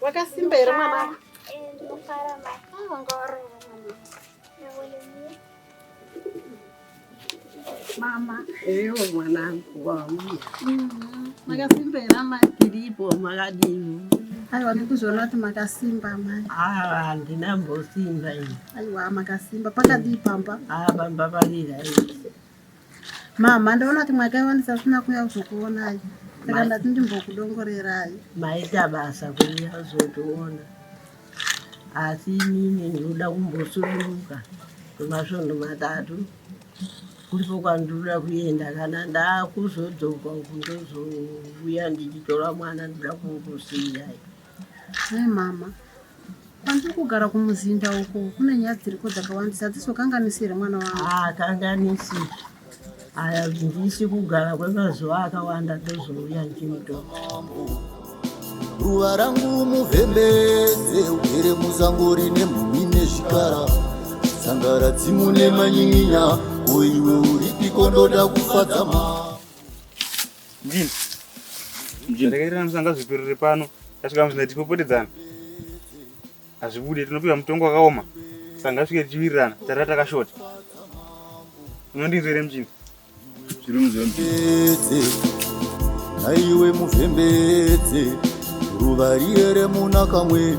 Wakasimba here mwana? Ndinofara mama. Eyo mwanangu wangu. Makasimba here amai tiripo makadini? Aiwa ndikuzoona kuti makasimba amai. Ah, handina mbosimba ini. Aiwa makasimba pakadii pamba? Ah, pamba parira. Mama, ndaona kuti makaiwa ndisasina kuuya kuzokuonai, saka ndati ndimbokudongorerai. Maita basa kuuya kuzotiona, asi inini ndinoda kumbosuduruka kwemasvondo matatu kulipo kwandinoda kuenda. Kana ndakuzodzoka uku ndozouya ndichitora mwana, ndinoda kungokusiyai. Hai mama, Kwandiri kugara kumuzinda uko kune nyaya dziriko dzakawandisa dzizokanganisi here mwana wangu? Haakanganisi. Aya ndisi kugara kwemazuva akawanda ndozouya ndichimutora. ruva rangu muvhembedze ugere muzango rine mhumi nezvikara sangara dzimu nemanyinya koiwe uripiko ndoda kufadza ma Ndini. Ndini. Regerera musanga zviperere pano. Tasvika muzina tipopotedzana. Hazvibude tinopiwa mutongo wakaoma. Sanga svike tichiwirirana. Tarira takashota. Unondinzwere mjini. Zviri muzwe mjini. Naiwe mufembedze. Ruva riere munakamwe.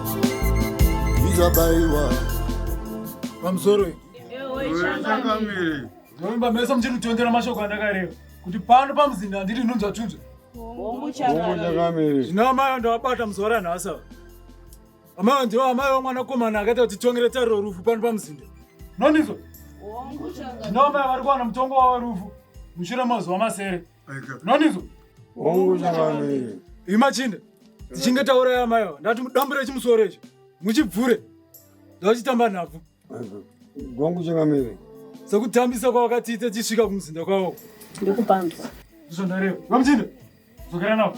izabaiwa pamusoro oimba mese muchiri kutondera mashoko andakareva kuti pano pamuzinda handiti nhunzva tunzva zvino amai andavabata muzuva ranhasi ava amai ndivo amai vamwanakomana akaita kuti tongere tariro rufu pano pamuzinda nondizvo zvino amai vari kuwana mutongo wavo rufu mushure mazuva masere Nanizo. Hongu chamamire. Imachinde. Tichinge tauraya amai ava. Ndati mudambure chimusoro ichi. Muchibvure. Ndachitamba nhabvu. Hongu chamamire. Sekutambisa kwawakatiita tichisvika kumuzinda kwawo. Ndikupanzwa. Ndizvo ndareva. Vamchinde. Dzokera navo.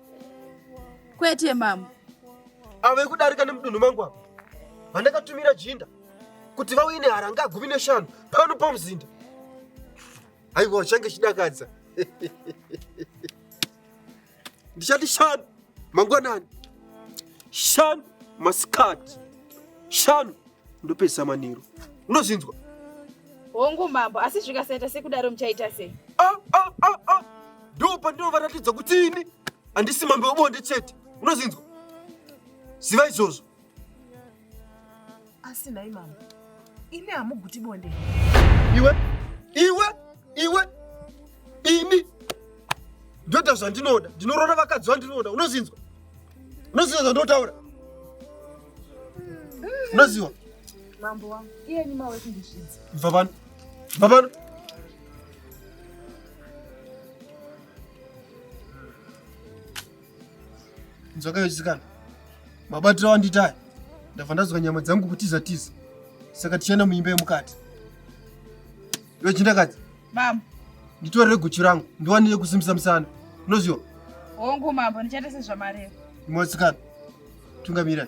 Kwete mambo. Avo vekudarika nemudunhu mangu avo vandakatumira jinda kuti vauye neharanga gumi neshanu pano pamuzinda. Aiwa change chidakadza. Ndichati shanu mangwanani. Shanu masikati. Shanu ndopedza manheru. Unozvinzwa? Hongu mambo, asi zvikasaita sekudaro muchaita sei? Ah, ah, ah, ah. ndo pandinovaratidza kuti ini handisi mambo webonde chete unozinzwa ziva izvozvo asi nhai mambo imi hamuguti bonde iwe iwe iwe ini ndoita zvandinoda ndinorona vakadzi vandinoda unozinzwa unoziva zvandinotaura unoziva mambo wangu iyeni mawe kundizvidza bva pano bva pano nzwaka yochisikana mabatiro awandiitaya ndabva ndazwa nyama dzangu kutiza tiza saka tichaenda muimba yemukati iwe chindakadzi mama nditorere guchu rangu ndiwanire kusimbisa musana unoziva hongu mambo ndichaita sezvamareva imwe wasikana tungamirai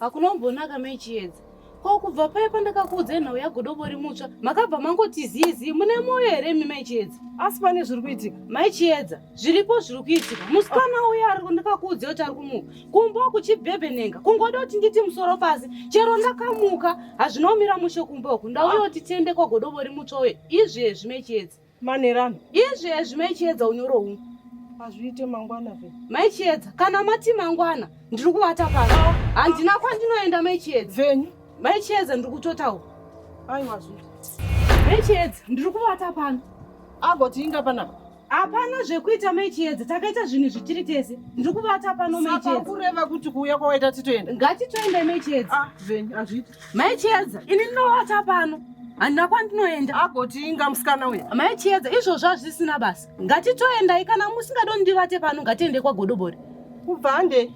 Hakuna kumbonaka mai Chiedza. Ko kubva paya pandakakuudzai nhau yagodobori mutsva makabva mangoti zii zii mune moyo here imi mai Chiedza? Asi pane zviri kuitika. Mai Chiedza, zviripo zviri kuitika. Musikana uya ari ndakakuudzai kuti ari kumuka. Kumba uku chibhebhenenga. Kungoda kuti nditi musoro pasi. Chero ndakamuka hazvina kumira mushe kumba uku. Ndauya kuti tiende kwagodobori mutsva uye izvezvi mai Chiedza. Manerano. Izvi ezvi mai Chiedza unyoro huu. Hazviite mangwana ve. Mai Chiedza, kana mati mangwana, ndiri kuvata pano. Ah. Handina kwandinoenda mai Chiedza. Venyu. Mai Chiedza ndiri kutotaura. Aiwa zvinhu. Mai Chiedza, ndiri kuvata pano. Agoti inga panapa. Hapana zvekuita mai Chiedza, takaita zvinhu zvichiri tese. Ndiri kuvata pano mai Chiedza. Saka kureva kuti kuuya kwawaita titoenda. Ngatitoenda mai Chiedza. Ah, venyu, hazviite. Mai Chiedza, ini ndinoata pano. Handina kwandinoenda. Agoti inga musikana uya. Mai Chiedza, izvozvo hazvisina basa. Ngatitoendai kana musingadoni ndivate pano ngatiende kwagodobori. Kubva hande.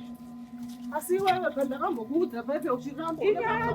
Asi iwewe pandakambokuudza pepe uchiramba. Ika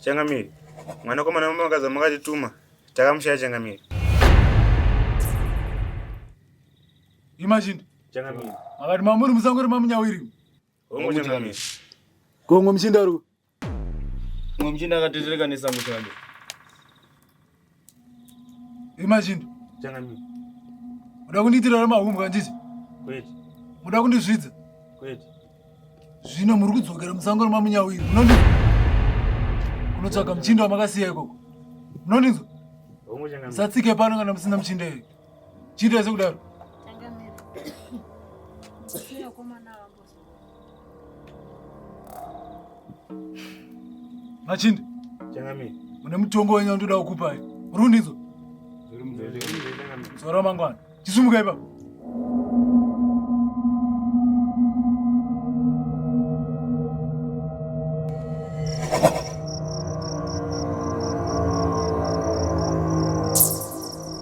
Changamire, mwanakomana wamakaza makatituma takamushaya Changamire. Imagine. Changamire. Makati mamuri musangori mamunyawiri. Hongu Changamire. Gongo mchinda ru. Gongo mchinda akatetereka nesango changu. Imagine. Changamire. Uda kundiitira ramahumbwa ndizvo? Kwete. Uda kundizvidza? Kwete. Zvino muri kudzokera musango remamunyawiri. Munondinzwa? Kunotsvaga muchinda wamakasiya ikoko. Munondinzwa? Musatsike pano kana musina muchinda iyoyo. Chiita sekudaro. Changamire. Sina komana wangu. Machindi. Changami. Une mutongo wenyu ndoda kukupa. Rundidzo. Zviri mudzote. Zora mangwana. Chisumuka ipapo.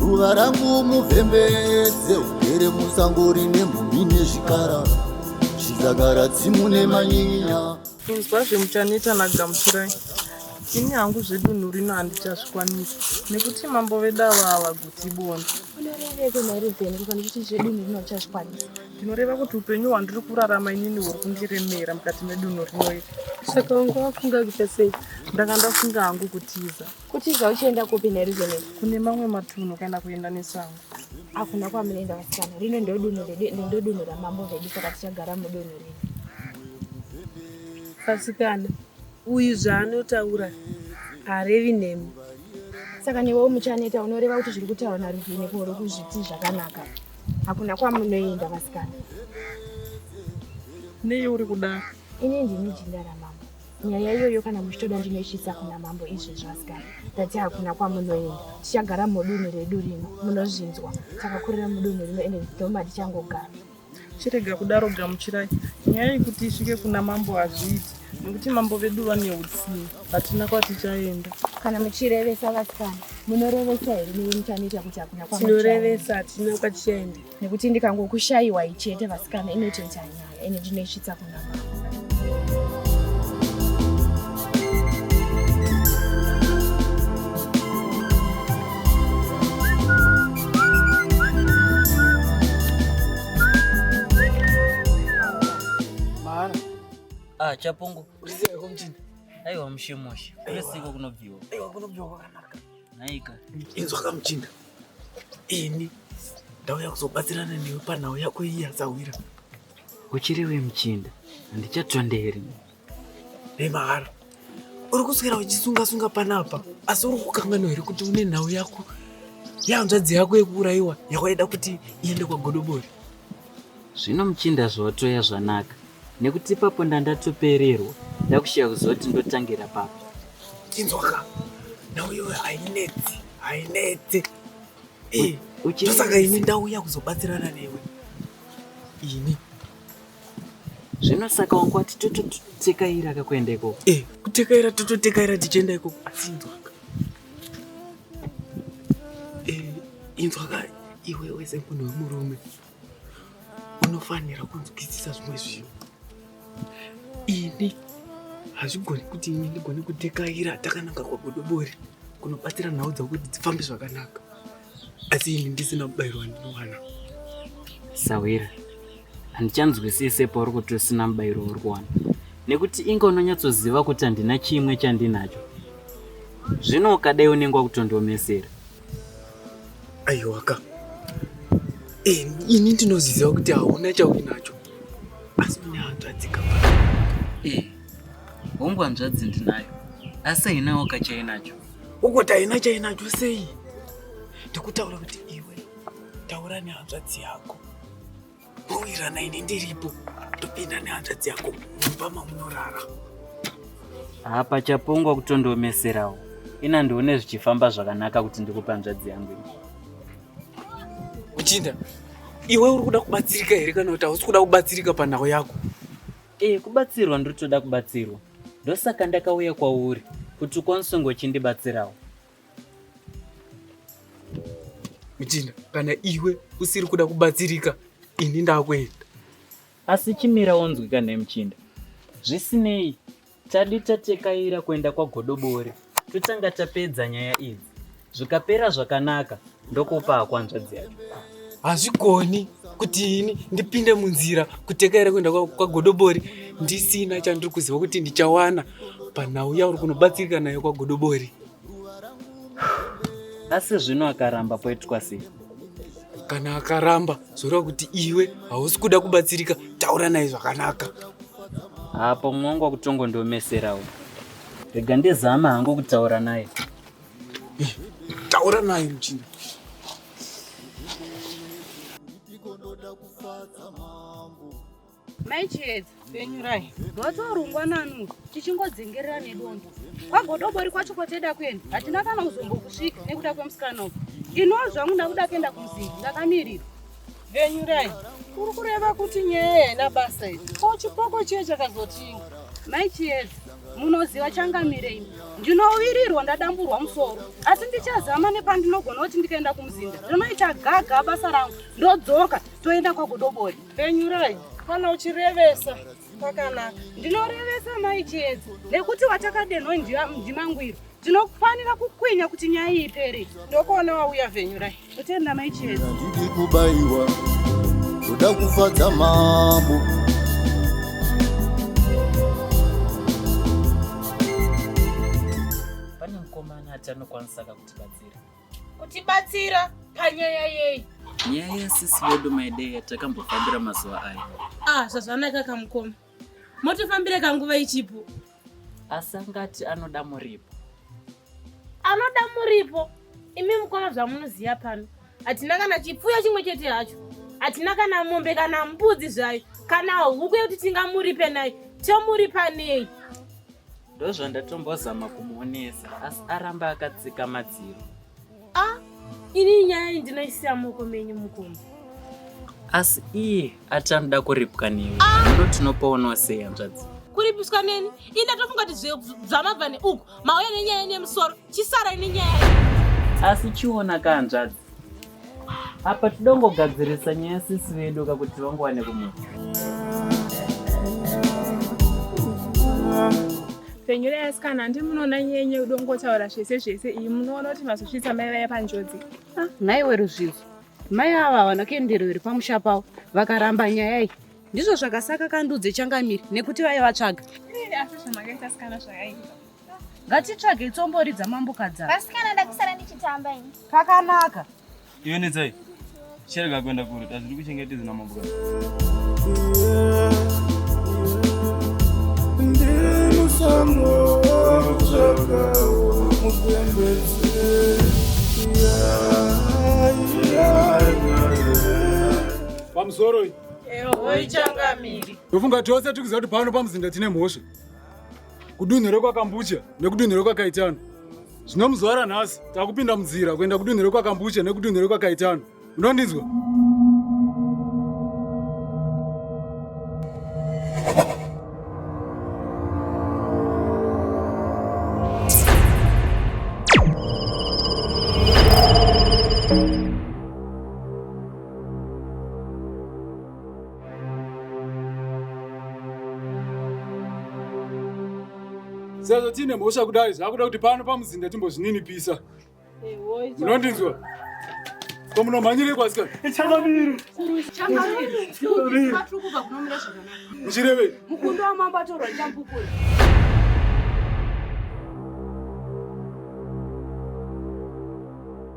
ruva rangu muvhembedze ugere musango rine mhumhi nezvikara zvidzagara tsimu nemanyinya kunzwa zvemuchaneta nagamuchirai ini hangu zvedunhu rino handichazvikwanisi nekuti mambo vedu ava havaguti bondo unoreveko nhairi zenu kufanira kuti zvedunhu rino uchazvikwanisa zvinoreva kuti upenyu hwandiri kurarama inini huri kundiremera mukati medunhu rino iri saka wanga wafunga kuita sei ndanga ndafunga hangu kutiza kutiza uchienda kupi nerizoni kune mamwe matunhu kana kuenda nesango akuna kwamunoenda vasikana rino ndodunhu ndodunhu ramambo vedu saka tichagara mudunhu rino vasikana uyu zvaanotaura harevi nemi saka newewo muchaneta unoreva kuti zviri kutaura naruvine kuuri kuzviti zvakanaka Hakuna kwamunoenda vasikana. Nei uri kudaro? Ini ndini jinda ramambo. Nyaya iyoyo kana muchitoda ndinoisvitsa kuna mambo izvezvi vasikana. Ndati hakuna kwamunoenda. Tichagara mudunhu redu rino. Munozvinzwa. Takakurira mudunhu rino ende ndidhoma tichangogara. Chirega kudaro gamuchirai. Nyaya yekuti isvike kuna mambo hazviiti nekuti mambo vedu vane utsinye. hatina kwatichaenda kana muchirevesa vasikana munorevesa here neve muchanoita kuti hakuna kwatinorevesa hatina kwatichaenda nekuti ndikangokushayiwa ichete vasikana inotoita nyaya ende ndinoisvitsa kuna mama Ah, chapungu Usiwe kumchina. Aiwa mushemushe. Kunesiko kunobviwa. Aiwa kunobviwa kwakanaka. Naika. Inzwa kamchinda. Ini ndauya kuzobatsirana newe panhau yako iyi yasahwira. Uchiriwe mchinda. Handichatondeeri. Hey mahara. Uri kuswera uchisunga sunga panapa asi uri kukanganwa here kuti une nhau yako yanzvadzi yako yekuurayiwa yawaida kuti iende kwagodobori Zvino muchinda zvotoya zvanaka nekuti ipapo ndandatopererwa ndakushaya kuziva kuti ndotangira papi. Chinzwaka nhau iyoyo hainetsi hainetsi Eh, Uchi- ndosaka ini ndauya kuzobatsirana newe ini Zvino saka wangu wati tototekaira kakuenda ikoko. Eh, kutekaira tototekaira tichienda ikoko asi inzwaka Eh, inzwaka iwe wese munhu wemurume unofanira kunzwisisa zvimwe zvinhu ini hazvigoni kuti ini ndigone kutekaira takananga kwagodobori kunobatsira nhau dzavo kuti dzifambe zvakanaka asi ini ndisina mubayiro wandinowana sawira handichanzwisise pauri kuti usina mubayiro wauri kuwana nekuti inge unonyatsoziva kuti handina chimwe chandinacho zvino ukadai unenge wakutondiomesera aiwaka eh, ini ndinoziva kuti hauna chauinacho asi une hanzvadzi ka eh, hongu hanzvadzi ndinayo asi hainawo kachainacho ukuti haina chainacho sei ndikutaura kuti iwe taura nehanzvadzi yako Roirana ini ndiripo topinda nehanzvadzi yako mumba mamunorara. Haa pachapongwa kutondiomeserawo. Ina ndione zvichifamba zvakanaka kuti ndikupe hanzvadzi yangu ini. Uchinda, iwe uri kuda kubatsirika here kana kuti hausi kuda kubatsirika panhau yako? Eh, kubatsirwa ndiri kutoda kubatsirwa. Ndosaka ndakauya kwauri kuti ukwanise kunge uchindibatsirawo. Muchinda, kana iwe usiri kuda kubatsirika, ini ndakuenda. Asi chimira wonzwika nhai muchinda? Zvisinei, tadi tatekaira kuenda kwagodobori totanga tapedza nyaya idzi. Zvikapera zvakanaka ndokupa hakwanzvadzi yacho. Hazvigoni kuti ini ndipinde munzira kutekaira kuenda kwa- kwagodobori ndisina chandiri kuziva kuti ndichawana panhau yauri kunobatsirika nayo kwagodobori. asi zvino akaramba poitwa sei kana akaramba zvoreva kuti iwe hausi kuda kubatsirika taura naye zvakanaka hapo mwongo kutongo ndomeserawo rega ndizama hangu kutaura naye eh, taura naye muchinda Mai Chiedza, penyurai. Rwatorungwa nanu, tichingodzengerera nedondo. Kwagodobori kwacho kwateda kuenda, hatina kana kuzombokusvika nekuda kwemusikana uku. Iniwo zvangu ndakuda kuenda kumuzinda, ndakamirira. Venyurai, uri kureva kuti nyaya haina basa iri. Ko chipoko chiye chakazotinga. Mai Chiedza, munoziva changamire ini. Ndinowirirwa ndadamburwa musoro, asi ndichazama nepandinogona kuti ndikaenda kumuzinda. Ndinoita gaga basa rangu, ndodzoka, toenda kwagodobori. Penyurai kana uchirevesa pakanaka. Ndinorevesa mai Chiedza nekuti watakadenho ndimangwiro. Tinofanira kukwinya kuti nyaya iyi ipere. Ndokuona wauya Venyurai. Kutenda mai Chiedza. Ndidi kubaiwa. Kuda kufadza mambo. anokwanisa kakutibatsira kutibatsira panyaya yeyi nyaya yasisi vedu maidei yatakambofambira mazuva aya ah zvazvanaka kamukoma motifambire kanguva ichipo asi angati anoda muripo anoda muripo imi mukoma zvamunoziva pano hatina kana chipfuyo chimwe chete hacho hatina kana mombe kana mbudzi zvayo kana huku yekuti tingamuripe nayo tomuripa nei ndozvandatombozama kumuonesa asi aramba akatsika madziro a ah, ini nyaya iyi ndinoisiya moko menyu mukoma asi iye ati anoda kuripwa newe ah! ndo tinopoonawo sei hanzvadzi kuripiswa neni ini ndatofunga kuti zvamabva neuku mauya nenyaya nemusoro Chisarai nenyaya iyi. Asi chiona kanzvadzi. Apa tidongogadzirisa nyaya sisi vedu kakuti vangowane kumudzi. Penyure asikana handi munoona nyenye udongotaura zvese zvese iyi munoona kuti mazosvitsa mai vaya panjodzi. Ah, nhaiwe ruzvidzo mai ava havana kuenderero here pamusha pavo vakaramba nyaya iyi ndizvo zvakasaka kandudze changamiri nekuti vaivatsvaga asi zvamakaita sikana zvakaipa Ngatitsvage tsombori dzamambo kadzana. Vasikana ndakusara ndichitamba ini. Pakanaka. Iwe netsai. Cherega kuenda kure. Tazviri kuchengetedza namambo Pamusoro. Eho ichangamiri. Ndofunga tose tikuziva kuti pano pamuzinda tine mhosva. kudunhu rekwakambucha nekudunhu rekwakaitano zvino muzuva ranhasi takupinda munzira kuenda kudunhu rekwakambucha nekudunhu rekwakaitano unondinzwa sezvo tiine mhosva kudai zvakuda kuti pano pamuzinda timbozvininipisa munondinzwa ko munomhanyirei kwasikana muchirevei mukundo wamambo atorwa chambukura